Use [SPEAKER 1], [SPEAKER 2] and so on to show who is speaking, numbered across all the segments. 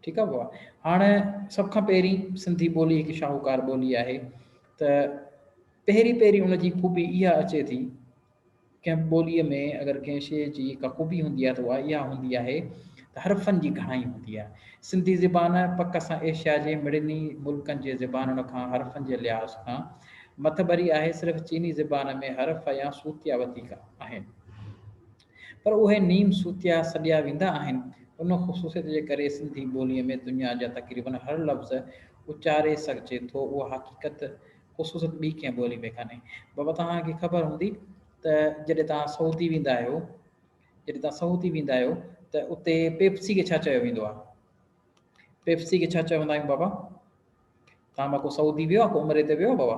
[SPEAKER 1] ٺيڪ آ بابا هاڻ سڀ کان پهرين سنڌي ٻولي هڪ شاهوڪار ٻولي آهي ته پهرين پهرين ان جي خوبي اها اچي ٿي ڪنهن ٻولي ۾ اگر ڪنهن شيء جي ڪا خوبي هوندي آهي ته اها اها هوندي آهي ته حرفن جي گهڻائي هوندي آهي سنڌي زبان پڪ سان ايشيا جي مڙني ملڪن جي زبانن کان حرفن جي لحاظ کان مٿڀري آهي صرف چيني زبان ۾ حرف يا صوتيا وڌيڪ آهن پر اهي نيم صوتيا سڏيا ويندا آهن. ان خصوصيت جي ڪري سنڌي ٻوليء ۾ دنيا جا تقريباً هر لفظ اچاري سگهجي ٿو. اها حقيقت، خصوصيت ٻي ڪنهن ٻوليء ۾ ڪانهي. بابا توهان کي خبر هوندي ته جڏهن توهان سعودي ويندا آهيو، جڏهن توهان سعودي ويندا آهيو ته اتي پيپسي کي ڇا چيو ويندو آهي؟ پيپسي کي ڇا چوندا آهيون بابا؟ توهان مان ڪو سعودي ويو آهي، ڪو عمري تي ويو آهي بابا؟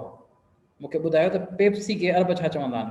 [SPEAKER 1] مون کي ٻڌايو ته پيپسي کي عرب ڇا چوندا آهن؟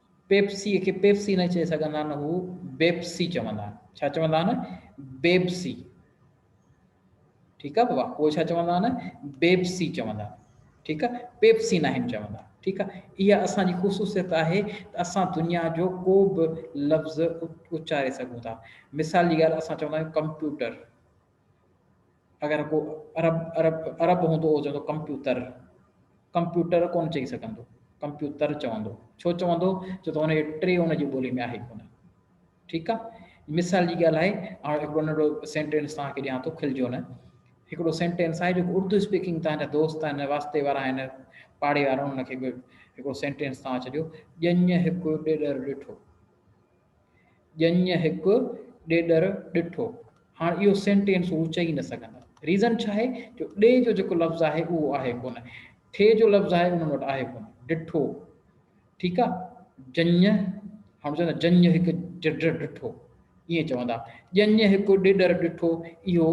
[SPEAKER 1] پيپسيء کي پيپسي نه چئي سگهندا آهن، هو بيپسي چوندا آهن. ڇا چوندا آهن؟ بيپسي. ٺيڪ آهي بابا، هو ڇا چوندا آهن؟ بيپسي چوندا آهن. ٺيڪ آهي، پيپسي ناهن چوندا. ٺيڪ آهي، اها اسان جي خصوصيت آهي ته اسان دنيا جو ڪو به لفظ اچاري سگهون ٿا. مثال جي ڳالهه اسان چوندا آهيون ڪمپيوٽر. اگر ڪو عرب عرب عرب هوندو هو چوندو ڪمپيوتر ڪمپيوٽر ڪون چئي سگهندو ڪمپيوتر چوندو ڇو چوندو ڇو ته هن جي ٽي هن جي ٻولي ۾ آهي ڪونه ٺيڪ آهي مثال جي ڳالهه آهي هاڻ هڪڙو ننڍو سينٽينس توهان کي ڏيان ٿو کلجو نه هڪڙو سينٽينس آهي جيڪو اردو اسپيڪنگ توهان جا دوست آهن واسطي وارا آهن پاڙي وارا هن کي هڪڙو سينٽينس توهان ڇڏيو ڄڃ هڪ ڏيڏر ڏٺو ڄڃ هڪ ڏيڏر ڏٺو. هاڻ اهو سينٽينس هو چئي نه سگهندا. ريزن ڇا آهي جو ڏي جو جيڪو لفظ آهي اهو آهي ڪونه. ٺي جو لفظ آهي انهن وٽ آهي ڪونه. ڏٺو. ٺيڪ آ. ڄڃ هاڻ چوندا ڄڃ هڪ ڏيڏر ڏٺو. ائين چوندا. ڄڃ هڪ ڏيڏر ڏٺو اهو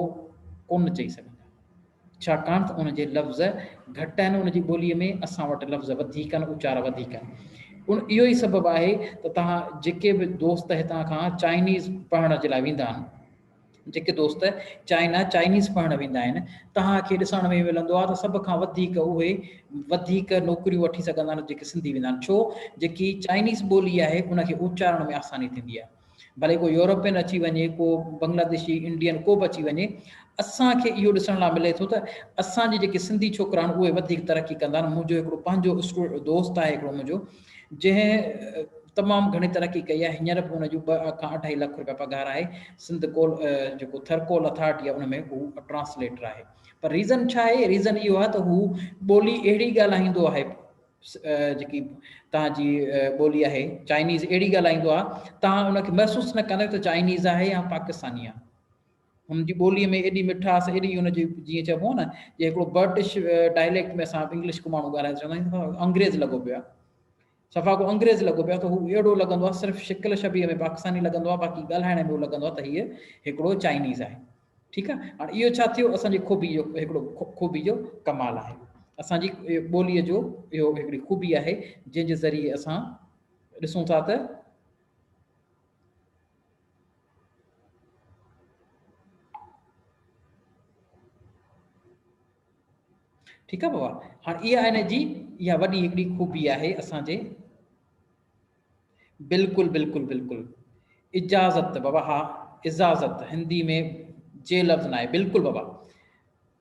[SPEAKER 1] ڪونه چئي سگهندا. ڇاڪاڻ ته ان جي لفظ گهٽ آهن ان جي ٻوليء ۾ اسان وٽ لفظ وڌيڪ آهن اچار وڌيڪ آهن ان اهو ئي سبب آهي ته تهان جيڪي به دوست هتان کان چائنيز پڙهڻ جي لاء ويندا آهن جيڪي دوست چائنا چائنيز پڙهڻ ويندا آهن تهان کي ڏسڻ ۾ ملندو آهي ته سڀ کان وڌيڪ اهي وڌيڪ نوڪريون وٺي سگهندا آهن جيڪي سنڌي ويندا آهن ڇو جيڪي چائنيز ٻولي آهي ان کي اچارڻ ۾ آساني ٿيندي آهي ڀلي ڪو يورپين اچي وڃي، ڪو بنگلاديشي، انڊين ڪو به اچي وڃي، اسان کي اهو ڏسڻ لاء ملي ٿو ته اسان جي جيڪي سنڌي ڇوڪرا آهن اهي وڌيڪ ترقي ڪندا آهن، منهنجو هڪڙو پنهنجو اسٽوڊ دوست آهي هڪڙو منهنجو جنهن تمام گهڻي ترقي ڪئي آهي هينئر به ان جون ٻه کان اڍائي لک روپيا پگهار آهي سنڌ ڪول جيڪو ٿر ڪول اٿارٽي آهي ان ۾ هو ٽرانسليٽر آهي پر ريزن ڇا آهي ريزن اهو آهي ته هو ٻولي اهڙي ڳالهائيندو آهي جيڪي توهان جي ٻولي آهي چائنيز اهڙي ڳالهائيندو آهي توهان ان کي محسوس نه ڪندا ته چائنيز آهي يا پاڪستاني آهي هن جي ٻولي ۾ ايڏي مٺاس ايڏي هن جي جيئن چئبو نه جي هڪڙو برٽش ڊائليڪٽ ۾ اسان انگلش کو ماڻهو ڳالهائي چوندا آهيون انگريز لڳو پيو آهي صفا کو انگريز لڳو پيو آهي ته هو اهڙو لڳندو آهي صرف شڪل شبيهه ۾ پاڪستاني لڳندو آهي باقي ڳالهائڻ ۾ لڳندو آهي ته هيء هڪڙو چائنيز آهي ٺيڪ آ هاڻ اهو ڇا ٿيو اسان جي خوبي جو هڪڙو خوبي جو ڪمال آهي اسان جي ٻولي جو اهو هڪڙي خوبي آهي جنهن جي ذريعي اسان ڏسون ٿا ته ٺيڪ آ بابا هاڻ اها هن جي اها وڏي هڪڙي خوبي آهي اسان جي بلڪل بلڪل بلڪل اجازت بابا ها اجازت هندي ۾ جي لفظ ناهي بلڪل بابا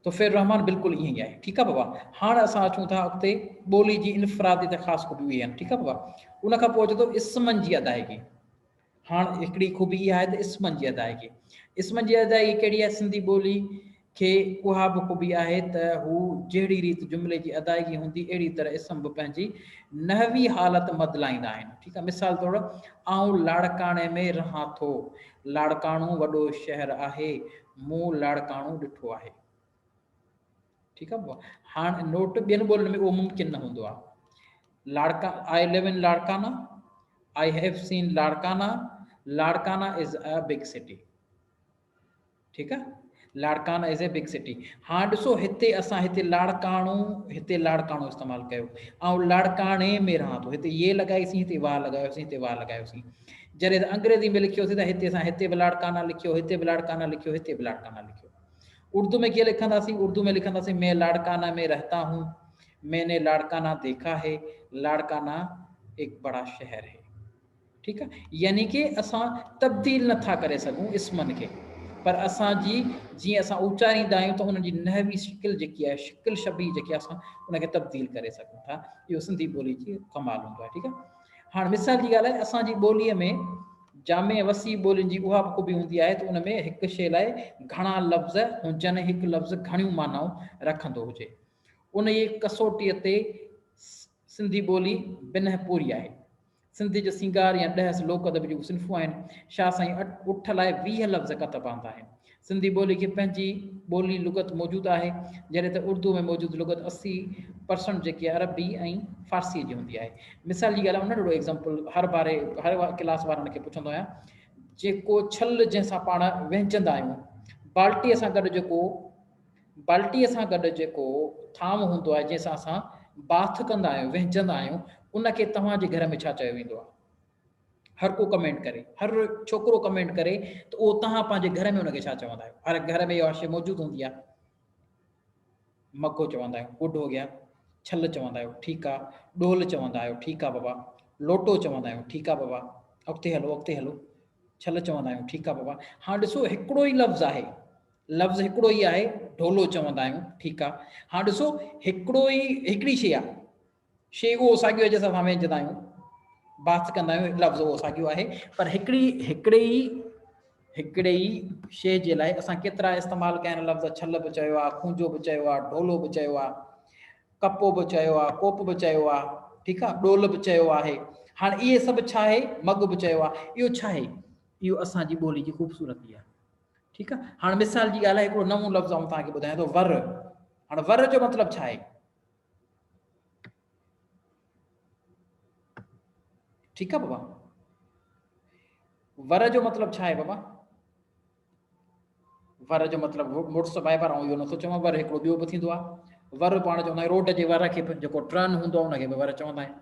[SPEAKER 1] توفير رحمان بلڪل ائين ئي آهي ٺيڪ آهي بابا هاڻ اسان اچون ٿا اڳتي ٻولي جي انفرادي ته خاص خوبيون اهي آهن ٺيڪ آهي بابا ان کان پوء اچي ٿو اسمن جي ادائيگي هاڻ هڪڙي خوبي اها آهي ته اسمن جي ادائيگي اسمن جي ادائيگي ڪهڙي آهي سنڌي ٻولي کي اها به خوبي آهي ته هو جهڙي ريت جملي جي ادائگي هوندي اهڙي طرح اسم به پنهنجي نحوي حالت مدلائيندا آهن ٺيڪ آهي مثال طور آئون لاڙڪاڻي ۾ رهان ٿو لاڙڪاڻو وڏو شهر آهي مون لاڙڪاڻو ڏٺو آهي ٺيڪ آهي هاڻ نوٽ ٻين ٻولين ۾ اهو ممڪن نه هوندو آهي Larkana I live in Larkana I have seen Larkana Larkana is a big city ٺيڪ آ Larkana is a big city هاڻ ڏسو هتي اسان هتي لاڙڪاڻو هتي لاڙڪاڻو استعمال ڪيو آئون لاڙڪاڻي ۾ رهان ٿو هتي يي لڳائيسين هتي وا لڳايوسين هتي وا لڳايوسين جڏهن انگريزي ۾ لکيوسين ته هتي اسان هتي به لاڙڪانا لکيو هتي به لاڙڪانا لکيو هتي به لاڙڪانا لکيو اردو ۾ ڪيئن لکنداسين اردو ۾ لکنداسين مين لاڙڪانا ۾ رهتا هون مين لاڙڪانا ديکا هي لاڙڪانا هڪ بڙا شهر هي ٺيڪ آ يعني ڪي اسان تبديل نه ٿا ڪري سگهون اسمن کي پر اسان جي جيئن اسان اوچاريندا آهيون ته انهن جي نحوي شڪل جيڪي آهي شڪل شبيهه جيڪي آهي اسان ان کي تبديل ڪري سگهون ٿا اهو سنڌي ٻولي جي ڪمال هوندو آهي ٺيڪ آهي هاڻ مثال جي ڳالهه آهي اسان جي ٻوليء ۾ جامع وسيع ٻولين جي اها به خوبي هوندي آهي ته ان ۾ هڪ شيء لاء گهڻا لفظ هجن هڪ لفظ گهڻيون معنائون رکندو هجي ان جي ڪسوٽيء تي سنڌي ٻولي بنهه پوري آهي. سنڌ جو سينگار يا ڏهس لوڪ ادب جون صنفون آهن. شاهه سائين اٺ لاء ويهه لفظ ڪتب آندا آهن. سنڌي ٻولي کي پنهنجي ٻولي لغت موجود آهي، جڏهن ته اردوء ۾ موجود لغت اسي پرسنٽ جيڪي عربي ۽ فارسيء جي هوندي آهي. مثال جي ڳالهه آء انڙو ايگزامپل هر باري هر ڪلاس وارن کي پڇندو آهيان. جيڪو ڇل جنهن سان پاڻ وهنچندا آهيون. بالٽيء سان گڏ جيڪو بالٽيء سان گڏ جيڪو ٿانو هوندو آهي، جنهن سان اسان باٿ ڪندا آهيون، وهنجندا آهيون، ان کي توهان جي گهر ۾ ڇا چيو ويندو آهي؟ هرڪو ڪمينٽ ڪري. هر ڇوڪرو ڪمينٽ ڪري ته اهو توهان پنهنجي گهر ۾ ان کي ڇا چوندا آهيو؟ هر گهر ۾ اها شيء موجود هوندي آهي. مگهو چوندا آهيون، گڊ هو گيا. ڇل چوندا آهيو، ٺيڪ آ. ڏول چوندا آهيو، ٺيڪ آ بابا. لوٽو چوندا آهيون، ٺيڪ آ بابا. اڳتي هلو، اڳتي هلو. ڇل چوندا آهيون، ٺيڪ آ بابا. هاڻ ڏسو هڪڙو ئي لفظ آهي. لفظ هڪڙو ئي آهي، ڍولو چوندا آهيون، ٺيڪ آ. هاڻ ڏسو هڪڙو ئي هڪڙي شيء آ، شيء اهو ساڳيو آهي جنهن سان اسان وينجهندا آهيون، بحث ڪندا آهيون، لفظ اهو ساڳيو آهي، پر هڪڙي هڪڙي ئي هڪڙي ئي شيء جي لاء اسان ڪيترا استعمال ڪيا آهن لفظ، ڇل به چيو آ، کونجو به چيو آ، ڍولو به چيو آ، ڪپو به چيو آ، ڪوپ به چيو آ، ٺيڪ آ، ڏول به چيو آهي. هاڻ اهي سڀ ڇا آهي، مڳ به چيو آ، اهو ڇا آهي؟ اهو اسان جي ٻولي جي خوبصورتي آ. ٺيڪ آ هاڻ مثال جي ڳالهه هڪڙو نئون لفظ آئون توهان کي ٻڌايان ٿو ور هاڻ ور جو مطلب ڇا آهي ٺيڪ آ بابا ور جو مطلب ڇا آهي بابا ور جو مطلب موٽس بائي پر آئون اهو نٿو چوان ور هڪڙو ٻيو به ٿيندو آهي ور پاڻ چوندا آهيون روڊ جي ور کي به جيڪو ٽرن هوندو آهي ان کي به ور چوندا آهيون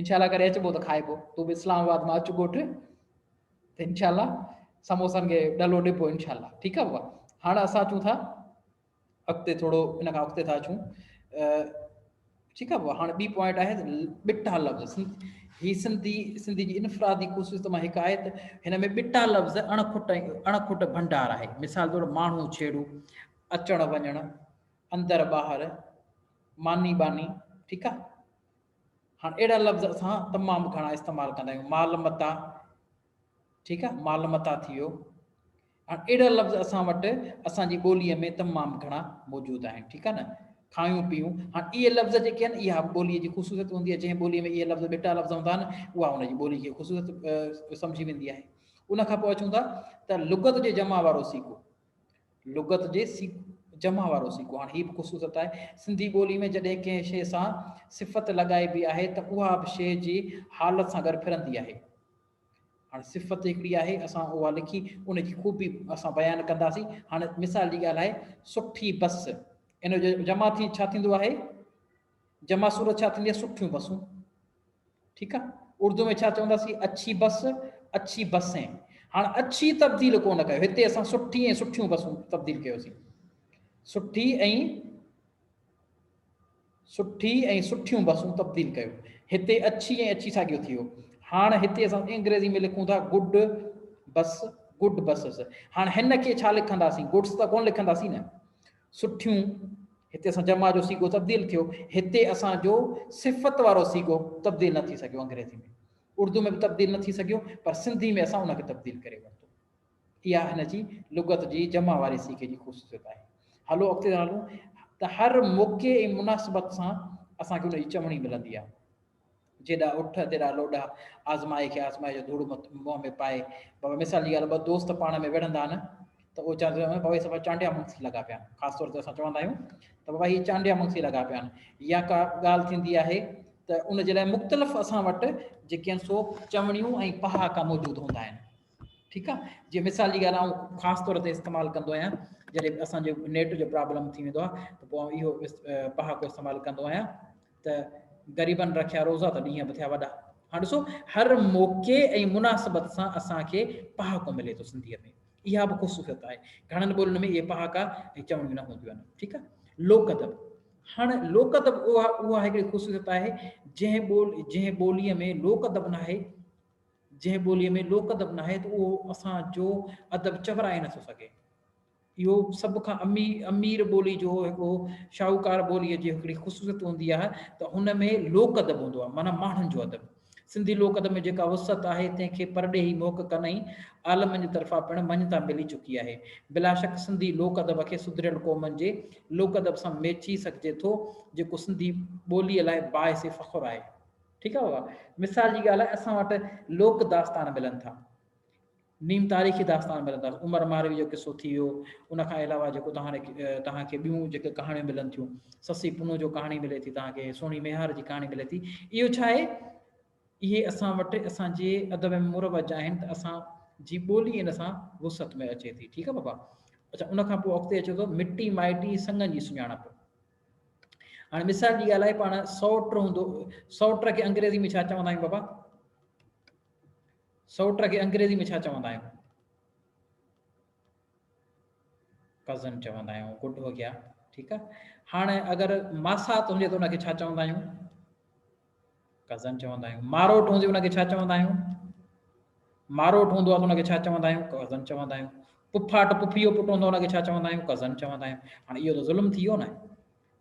[SPEAKER 1] انشاء الله ڪڏهن اچبو ته کائبو تون به اسلام آباد مان اچ ڳوٺ ته انشاء الله سموسن کي ڏلو ڏبو انشاء الله ٺيڪ آهي بابا هاڻ اسان اچون ٿا اڳتي ٿورو ان کان اڳتي ٿا اچون ٺيڪ آهي بابا هاڻ ٻي پوائنٽ آهي ٻٽا لفظ هي سنڌي سنڌي جي انفرادي خصوصيت مان هڪ آهي ته هن ۾ ٻٽا لفظ اڻ کٽ اڻ کٽ ڀنڊار آهي مثال طور ماڻهو ڇيڙو اچڻ وڃڻ اندر ٻاهر ماني باني ٺيڪ آهي هاڻ اهڙا لفظ اسان تمام گهڻا استعمال ڪندا آهيون مال متاع ٺيڪ آهي مال متاع ٿي ويو هاڻ اهڙا لفظ اسان وٽ اسان جي ٻوليء ۾ تمام گهڻا موجود آهن ٺيڪ آهي نه کايون پيون هاڻ اهي لفظ جيڪي آهن اها ٻوليء جي خصوصيت هوندي آهي جنهن ٻوليء ۾ اهي لفظ ٻيٽا لفظ هوندا آهن اها ان جي ٻولي جي خصوصيت سمجهي ويندي آهي ان کان پوء اچون ٿا ته لغت جي جمع وارو سيکو لغت جي سيڪ جمع وارو سيڪو هاڻ هي به خصوصت آهي سنڌي ٻولي ۾ جڏهن ڪنهن شيء سان صفت لڳائبي آهي ته اها به شيء جي حالت سان گڏ ڦرندي آهي هاڻ صفت هڪڙي آهي اسان اها لکي ان جي خوبي اسان بيان ڪنداسين هاڻ مثال جي ڳالهه آهي سٺي بس ان جو جمع ٿي ڇا ٿيندو آهي جمع صورت ڇا ٿيندي سٺيون بسون ٺيڪ آ اردو ۾ ڇا چوندا سي اڇي بس اڇي بسين هاڻ اڇي تبديل ڪو نه ڪيو هتي اسان سٺي ۽ سٺيون بسون تبديل ڪيو سي سٺي ۽ سٺي ۽ سٺيون بسون تبديل ڪيو هتي اڇي ۽ اڇي ساڳيو ٿيو هاڻ هتي اسان انگريزي ۾ لکون ٿا گڊ بس گڊ بسز هاڻ هن کي ڇا لکنداسين گڊس ته ڪون لکنداسين نه سٺيون، هتي اسان جمع جو صيغو تبديل ٿيو، هتي اسان جو صفت وارو صيغو تبديل نه ٿي سگهيو انگريزي ۾ اردو ۾ به تبديل نه ٿي سگهيو پر سنڌي ۾ اسان ان کي تبديل ڪري ورتو اها هن جي لغت جي جمع واري صيغي جي خصوصيت آهي هلو اڳتي ٿا هلون ته هر موقعي ۽ مناسبت سان اسان کي ان جي چوڻي ملندي آهي جيڏا اٺ تيڏا لوڏا، آزمائي کي آزمائي جو ڌوڙ منهن ۾ پائي. بابا مثال جي ڳالهه، ٻه دوست پاڻ ۾ وڙهندا آهن ته اهي چوندا آهن، بابا هي صفا چانڊيا مونسي لڳا پيا آهن. خاص طور تي اسان چوندا آهيون ته بابا هي چانڊيا مونسي لڳا پيا آهن. يا ڪا ڳالهه ٿيندي آهي ته ان جي لاء مختلف اسان وٽ جيڪي آهن سو چوڻيون ۽ پهاڪا موجود هوندا آهن. ٺيڪ آهي. جي مثال جي ڳالهه آئون خاص طور تي استعمال ڪندو آهيان جڏهن اسان جو نيٽ جو پرابلم ٿي ويندو آهي ته پوء آئون اهو پهاڪو استعمال ڪندو آهيان. ته غريبن رکيا روزا ته ڏينهن به ٿيا وڏا. هاڻ ڏسو هر موقعي ۽ مناسبت سان اسان کي پهاڪو ملي ٿو سنڌيء ۾ اها به خصوصيت آهي گهڻن ٻولين ۾ اهي پهاڪا ۽ چوڻيون نه هونديون آهن ٺيڪ آهي لوڪ ادب هاڻ لوڪ ادب اها اها هڪڙي خصوصيت آهي جنهن ٻول جنهن ٻوليء ۾ لوڪ ادب نه آهي جنهن ٻوليء ۾ لوڪ ادب نه آهي ته اهو اسان جو ادب چورائي نٿو سگهي اهو سڀ کان امير ٻولي جو هڪڙو شاهوڪار ٻوليء جي هڪڙي خصوصيت هوندي آهي ته ان ۾ لوڪ ادب هوندو آهي معنيٰ ماڻهن جو ادب. سنڌي لوڪ ادب ۾ جيڪا وسعت آهي تنهن کي پرڏيهي محققن ۽ عالمن جي طرفان پڻ مڃتا ملي چڪي آهي. بلاشڪ سنڌي لوڪ ادب کي سڌريل قومن جي لوڪ ادب سان ميچي سگهجي ٿو جيڪو سنڌي ٻوليء لاء باعث فخر آهي. ٺيڪ آهي. مثال جي ڳالهه لاء اسان وٽ لوڪ داستان ملن ٿا. نيم تاريخي داستان ملنداس، عمر ماروي جو قصو ٿي ويو، ان کان علاوه جيڪو توهان توهان کي ٻيون جيڪي ڪهاڻيون ملن ٿيون، سسي پنهون جو ڪهاڻي ملي ٿي توهان کي، سهڻي ميهار جي ڪهاڻي ملي ٿي، اهو ڇا آهي اهي اسان وٽ اسان جي ادب ۾ مروج آهن ته اسان جي ٻولي ان سان وسعت ۾ اچي ٿي، ٺيڪ آهي بابا. اچا ان کان پوء اڳتي اچو ته مٽي مائٽي سنگن جي سڃاڻپ. هاڻي مثال جي ڳالهه آهي پاڻ سوٽ هوندو سوٽ کي انگريزي ۾ ڇا چوندا آهيون بابا؟ سئوٽ کي انگريزي ۾ ڇا چوندا آهيون؟ ڪزن چوندا آهيون گڊ هو گيا ٺيڪ آ هاڻ اگر ماسات هجي ته ان کي ڇا چوندا آهيون ڪزن چوندا آهيون ماروٽ هجي ان کي ڇا چوندا آهيون ماروٽ هوندو آ ته ان کي ڇا چوندا آهيون ڪزن چوندا آهيون پڦاٽ پڦيو پٽ هوندو ان کي ڇا چوندا آهيون ڪزن چوندا آهيون هاڻ اهو ته ظلم ٿي ويو نه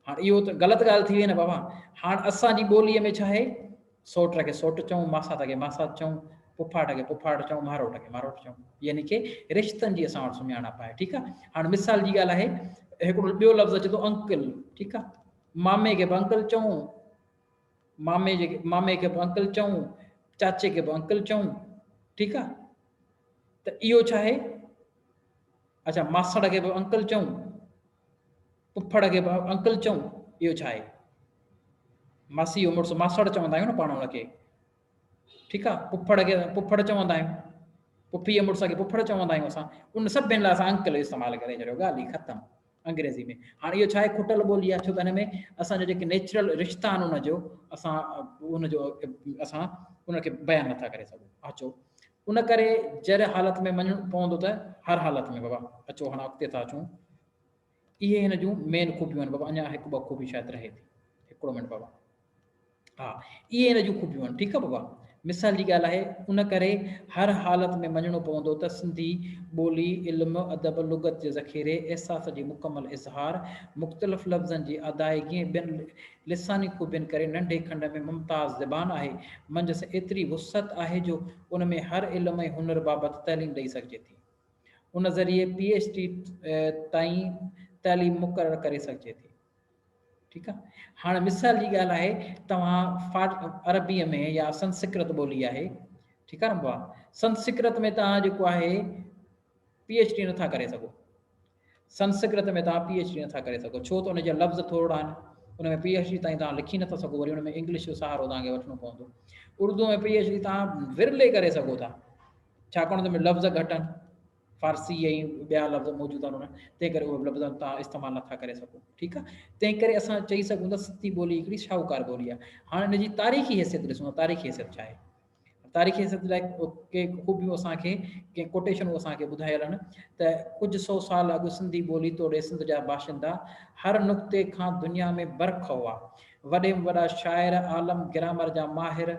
[SPEAKER 1] هاڻ اهو ته غلط ڳالهه ٿي وئي نه بابا. هاڻ اسان جي ٻوليء ۾ ڇاهي؟ سوٽ کي سوٽ چئون، ماسات کي ماسات چئون، ڦڦاٽ کي ڦڦاٽ چئون، ماروٽ کي ماروٽ چئون. يعني ڪي رشتن جي اسان وٽ سڃاڻپ آهي. ٺيڪ آهي. هاڻ مثال جي ڳالهه آهي، هڪڙو ٻيو لفظ اچي ٿو انڪل. ٺيڪ آهي. مامي کي به انڪل چئون، مامي جي مامي کي به انڪل چئون، چاچي کي به انڪل چئون. ٺيڪ آهي. ته اهو ڇاهي؟ اچا ماسڙ کي به انڪل چئون. پڦڙ کي به انڪل چئون، اهو ڇا آهي؟ ماسي جو مڙس ماسڙ چوندا آهيون نه پاڻ هن کي ٺيڪ آ پڦڙ کي پڦڙ چوندا آهيون پڦي جي مڙس کي پڦڙ چوندا آهيون اسان ان سڀن لاء اسان انڪل جو استعمال ڪري ڇڏيو ڳالهه ئي ختم انگريزي ۾ هاڻي اهو ڇا آهي کٽل ٻولي آهي ڇو ته هن ۾ اسان جو جيڪي نيچرل رشتا آهن ان جو اسان ان جو اسان ان کي بيان نٿا ڪري سگهون اچو ان ڪري جر حالت ۾ مڃڻو پوندو ته هر حالت ۾ بابا اچو هاڻ اڳتي ٿا اچون اهي هن جون مين خوبيون آهن بابا اڃا هڪ ٻه خوبي شايد رهي ٿي هڪڙو منٽ بابا ها اهي هن جون خوبيون آهن ٺيڪ آهي بابا مثال جي ڳالهه آهي ان ڪري هر حالت ۾ مڃڻو پوندو ته سنڌي ٻولي علم ادب لغت جي ذخيري احساس جي مڪمل اظهار مختلف لفظن جي ادائگي ۽ ٻين لساني خوبين ڪري ننڍي کنڊ ۾ ممتاز زبان آهي، منجهس ايتري وسعت آهي جو ان ۾ هر علم ۽ هنر بابت تعليم ڏئي سگهجي ٿي. ان ذريعي پي ايڇ ڊي تائين تعليم مقرر ڪري سگهجي ٿي. ٺيڪ آ هاڻ مثال جي ڳالهه آهي توهان فاٽ عربي ۾ يا سنسڪرت ٻولي آهي ٺيڪ آ نه بوا سنسڪرت ۾ توهان جيڪو آهي پي ايڇ ڊي نٿا ڪري سگهو سنسڪرت ۾ توهان پي ايڇ ڊي نٿا ڪري سگهو ڇو ته ان جا لفظ ٿورڙا آهن ان ۾ پي ايڇ ڊي تائين توهان لکي نٿا سگهو وري ان ۾ انگلش جو سهارو توهان کي وٺڻو پوندو اردو ۾ پي ايڇ ڊي توهان ورلي ڪري سگهو ٿا ڇاڪاڻ ته لفظ گهٽ آهن فارسي ۽ ٻيا لفظ موجود آهن انهن تنهن ڪري اهي لفظ توهان استعمال نٿا ڪري سگهو ٺيڪ آهي تنهن ڪري اسان چئي سگهون ٿا سنڌي ٻولي هڪڙي شاهوڪار ٻولي آهي هاڻ ان جي تاريخي حيثيت ڏسون تاريخي حيثيت ڇا آهي تاريخي سنڌ لاء ڪي خوبيون اسان کي ڪي ڪوٽيشنون اسان کي ٻڌايل آهن ته ڪجهه سو سال اڳ سنڌي ٻولي توڙي سنڌ جا باشندا هر نقطي کان دنيا ۾ برک هئا وڏي ۾ وڏا شاعر عالم گرامر جا ماهر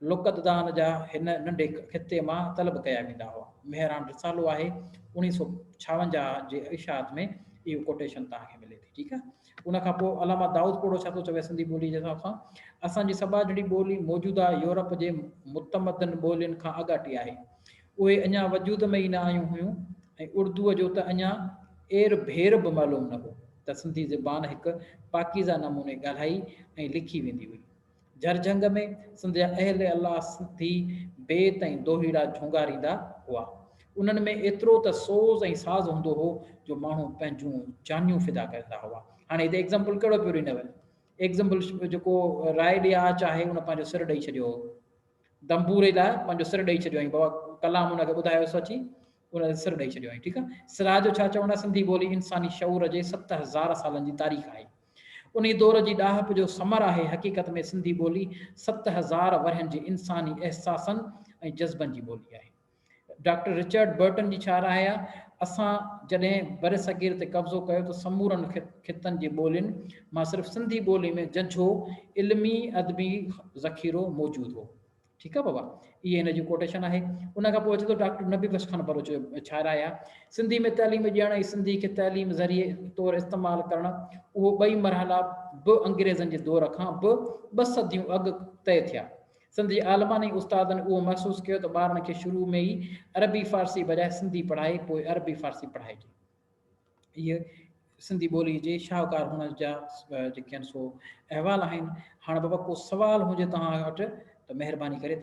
[SPEAKER 1] لغتدان جا هن ننڍي خطي مان طلب ڪيا ويندا هئا مهراڻ رسالو آهي اوڻيهه سؤ ڇاونجاهه جي اشاعت ۾ اهو ڪوٽيشن توهان کي ملي ٿي ٺيڪ آهي ان کان پوء علامه دائود پوڙهو ڇا ٿو چوي سنڌي ٻوليء جي حساب سان، اسان جي سٻاجهڙي ٻولي موجوده يورپ جي متمدن ٻولين کان اڳاٽي آهي. اهي اڃا وجود ۾ ئي نه آيون هيون ۽ اردوء جو ته اڃا اير ڀير به معلوم نه هو ته سنڌي زبان هڪ پاڪيزه نموني ڳالهائي ۽ لکي ويندي هئي. جرجهنگ ۾ سنڌ جا اهل الله سنڌي بيت ۽ دوهيڙا جهونگاريندا هئا. انهن ۾ ايترو ته سوز ۽ ساز هوندو هو جو ماڻهو پنهنجون جانيون فدا ڪريندا هئا. هاڻي هتي ايگزامپل ڪهڙو پيو ڏنو وڃي؟ ايگزامپل جيڪو راء ڏي آ چاهي ان پنهنجو سر ڏئي ڇڏيو هو. دمبوري لاء پنهنجو سر ڏئي ڇڏيو هئائين. بابا ڪلام ان کي ٻڌايوس اچي ان تي سر ڏئي ڇڏيو هئائين. ٺيڪ آ. سراء جو ڇا چوڻ آ سنڌي ٻولي انساني شعور جي ست هزار سالن جي تاريخ آهي. انهي دور جي ڏاهپ جو ثمر آهي حقيقت ۾ سنڌي ٻولي ست هزار ورهين جي انساني احساسن ۽ جذبن جي ٻولي آهي. ڊاڪٽر رچرڊ برٽن جي ڇا راء آهي؟ اسان جڏهن برصغير تي قبضو ڪيو ته سمورن خطن جي ٻولين مان صرف سنڌي ٻولي ۾ ججهو علمي ادبي ذخيرو موجود هو. ٺيڪ آ بابا اهي هن جون ڪوٽيشن آهي ان کان پوء اچي ٿو ڊاڪٽر نبي بخش خان بروچ جو شاعر آهي سنڌي ۾ تعليم ڏيڻ ۽ سنڌي کي تعليم ذريعي طور استعمال ڪرڻ اهو ٻئي مرحلا به انگريزن جي دور کان به ٻه صديون اڳ طئي ٿيا سنڌ جي عالمن ۽ استادن اهو محسوس ڪيو ته ٻارن کي شروع ۾ ئي عربي فارسي بجاء سنڌي پڙهائي پوء عربي فارسي پڙهائجي اهي سنڌي ٻولي جي شاهڪار هئڻ جا جيڪي آهن سو احوال آهن. هاڻ بابا ڪو سوال هجي توهان وٽ ته مهرباني ڪري